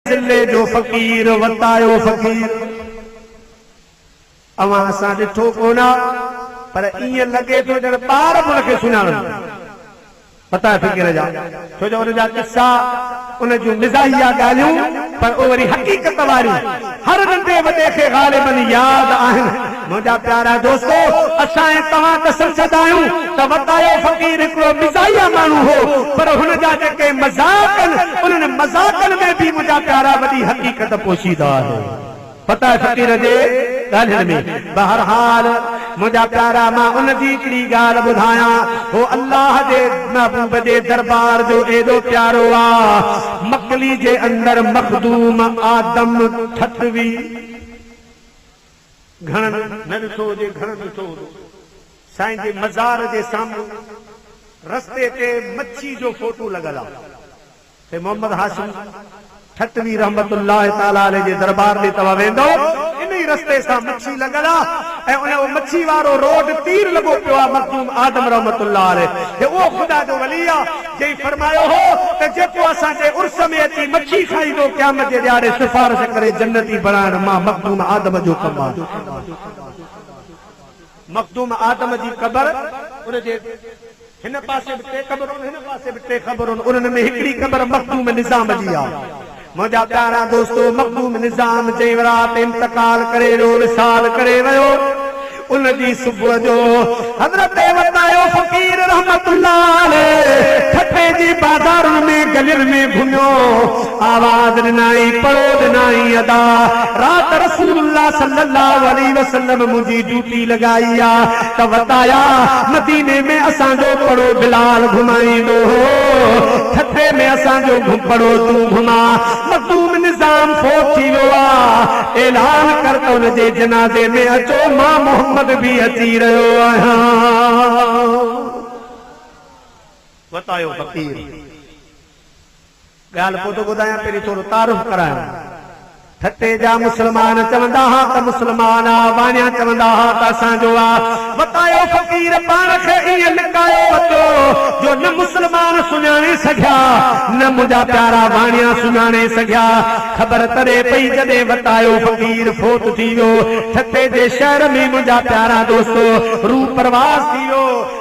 ضلعي جو فقير وتايو فقير اوهان اسان ڏٺو ڪونه پر ائين لڳي ٿو ڄڻ ٻار به ان کي سڃاڻن ٿا وتايو فقير جا ڇو جو ان جا قصا ان جون مزاحيه ڳالهيون پر اهي وري حقيقت واريون هر ننڍي وڏي کي غالبن ياد آهن. منهنجا پيارا دوستو! اسان ۽ توهان ته سمجهندا آهيون ته وتايو فقير هڪڙو مزاحيه ماڻهو هو، پر هن جا جيڪي مذاق آهن، انهن مذاقن ۾ به منهنجا پيارا وڏي حقيقت پوشيده آهي. وتايو فقير جي ڳالهين ۾. بهرحال منهنجا پيارا مان ان جي هڪڙي ڳالهه ٻڌايان، هو الله جي محبوب جي دربار جو ايڏو پيارو آ، مڪلي جي اندر مخدوم آدم ٺٽوي، گهڻن نه ڏٺو هجي گهڻن ڏٺو هوندو سائين جي مزار جي سامهون رستي تي مڇي جو فوٽو لڳل آ تي محمد هاشم ٺٽوي رحمة الله تعالٰي عليه جي دربار ڏي توهان ويندؤ انهي رستي سان مڇي لڳل آ ۽ اهو مڇي وارو روڊ تير لڳو پيو آ مخدوم آدم رحمة الله عليه جي اهو خدا جو ولي آ جنهن فرمايو هو ته جيڪو اسان جي عرس ۾ اچي مڇي کائيندو قيامت جي ڏهاڙي سفارش ڪري جنتي بڻائڻ مان مخدوم آدم جو ڪم آهي. مخدوم آدم جي قبر ان جي هن پاسي به ٽي قبرون هن پاسي به ٽي قبرون انهن ۾ هڪڙي قبر مخدوم نظام جي آهي. منهنجا پيارا دوستو! مخدوم نظام جنهن رات انتقال ڪري ويو، وصال ڪري ويو، ان جي صبح جو حضرت وتايو فقير رحمة الله عليه ٺٽي جي بازارن ۾ گلين ۾ گهميو، آواز ڏنائين، پڙو ڏنائين، ادا! رات رسول الله صلي الله عليه وسلم منهنجي ڊيوٽي لڳائي آ. ته وتايا مديني ۾ اسان جو پڙو بلال گهمائيندو هو، ٺٽي ۾ اسان جو پڙو تون گهماء، مخدوم نظام فوت ٿي ويو آ، اعلان ڪر ته ان جي جنازي ۾ اچو، مان محمد به اچي رهيو آهيان. وتايو فقير. ڳالهه پوء ٿو ٻڌايان پهرين ٿورو تعارف ڪرايان. ٺٽي جا مسلمان چوندا ها ته مسلمان آ، واڻيا چوندا ها ته اسان جو آ. وتايو فقير پاڻ کي ائين لڪايو وتو جو نه مسلمان سڃاڻي سگهيا نه منهنجا پيارا واڻيا سڃاڻي سگهيا. خبر تڏهن پئي جڏهن وتايو فقير فوت ٿي ويو. ٺٽي جي شهر ۾ منهنجا پيارا دوستو روح پرواز ٿي ويو.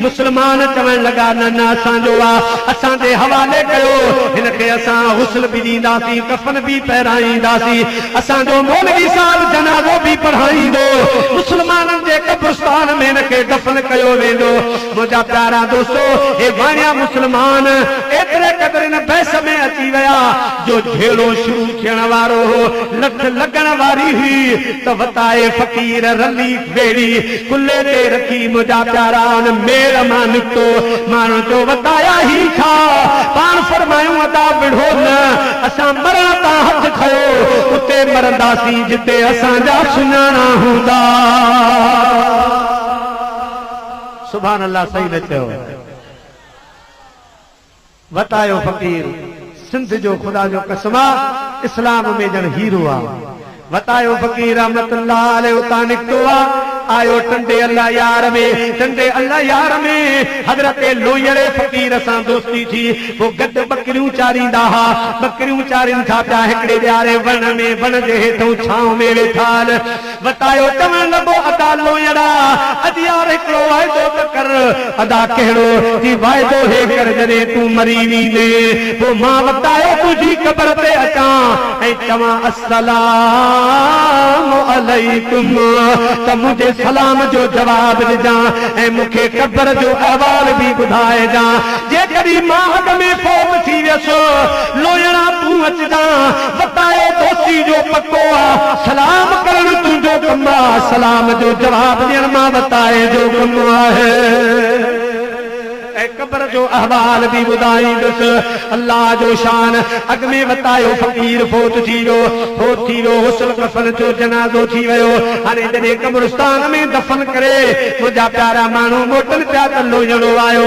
مسلمان چوڻ لڳا، نه نه اسان جو آ، اسان جي حوالي ڪيو، هن کي اسان غسل به ڏينداسين، ڪفن به پهرائينداسين، اسان جو مولوي صاحب جنازو به پڙهائيندو، مسلمانن جي قبرستان ۾ هن کي دفن ڪيو ويندو. منهنجا پيارا دوستو! هي واڻيا مسلمان ايتري قدر ان بحث ۾ اچي ويا، جو جهيڙو شروع ٿيڻ وارو هو، لٺ لڳڻ واري هئي ته وتائي فقير رلي، ٻيڙي ڪلهي تي رکي منهنجا پيارا ان ميڙ مان نڪتو. ماڻهن چيو، وتايا هي ڇا؟ پاڻ فرمايون، ادا وڙهو نه، اسان مرڻ تان هٿ کنيو، اتي مرنداسين جتي اسان جا سڃاڻا هوندا. سبحان الله صحيح نه چيو. وتايو فقير سنڌ جو خدا جو قسم آ اسلام ۾ ڄڻ هيرو آ وتايو فقير رحمت الله عليه اتان نڪتو آ آيو ٽنڊي الله يار ۾ ٽنڊي الله يار ۾ حضرت لويڙي فقير سان دوستي ٿي پو گڏ ٻڪريون چاريندا ها ٻڪريون چارين ٿا پيا هڪڙي ڏياري وڻ ۾ وڻ جي هيٺئون ڇانو ۾ ويٺال وتايو چوڻ لڳو ادا لوئيڙا اڄ يار هڪڙو واعدو ته ڪر. ادا ڪهڙو چي واعدو هي ڪر جڏهن تون مري ويندين پوء مان وتايو تنهنجي قبر تي اچان ۽ چوان السلام عليڪم ته منهنجي سلام جو جواب ڏجان ۽ مون کي قبر جو احوال به ٻڌائجان جيڪڏهن مان اڳ ۾ فوت ٿي ويس لوئيڙا تون اچجان. ستائي دوستي جو پڪو آ، سلام ڪرڻ تنهنجو ڪم آ، سلام جو جواب ڏيڻ مان وتائي جو ڪم آهي. ۽ قبر جو احوال به ٻڌائيندس. الله جو شان اڳ ۾ وتايو فقير فوت ٿي ويو، فوت ٿي ويو غسل ڪفن ٿيو جنازو ٿي ويو هاڻي جڏهن قبرستان ۾ دفن ڪري منهنجا پيارا ماڻهو موٽن پيا ته لوهياڻو آيو،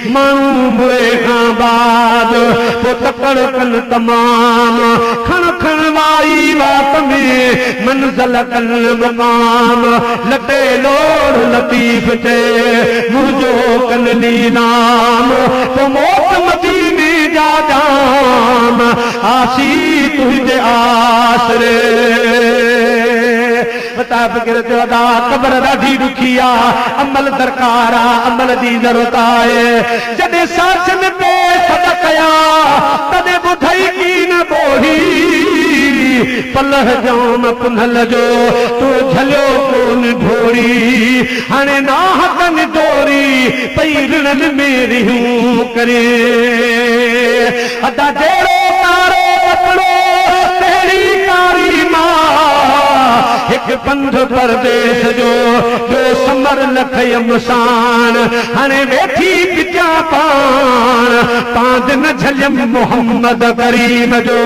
ماڻهو مري کان بعد پوء تڪڙ ڪن تمام کڻ کڻ وائي وات ۾ منزل ڪن مقام لٽي لوڙ لطيف چئي منهنجو ڪن نيلام پوء موٽ مديني جا ڄام آسي تنهنجي آسري بتاء فڪر ٿيو ادا قبر ڏاڍي ڏکي آ عمل درڪار آ عمل جي ضرورت آهي جڏهن ساچ ۾ پئي سڏ ڪيا تڏهن ٻڌئي ڪي نه ٻوڙي پلئه ڄام پنهل جو تو جهليو ڪون ڍوري هاڻي ناحقن ڊوري پئي رڙن ۾ رهيون ڪرين. ادا جهڙو ڪارو ڪپڙو تهڙي ڪاري مان هڪ پنڌ پرديس جو ٻيو سمر نه کيم ساڻ هاڻي ويٺي پچان پاڻ پاند نه جهليم محمد ڪريم جو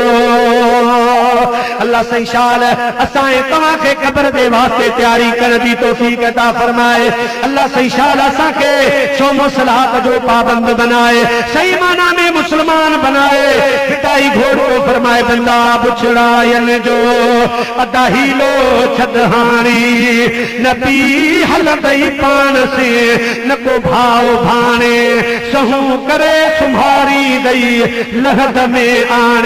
الله سائين شال اسان ۽ توهان کي قبر جي واسطي تياري ڪرڻ جي توفيق عطا فرمائي. الله سائين شال اسان کي سو مصلحات جو پابند بنائي صحيح معنيٰ ۾ مسلمان بنائي فدائي گهوڙ ٿو فرمائي بندا بڇڙاين جو ادا حيلو ڇڏ هاڻي نه پي هلندئي پاڻ سين نه ڪو ڀاء ڀاڻي سهون ڪري سنڀاريندئي لحد ۾ آڻي.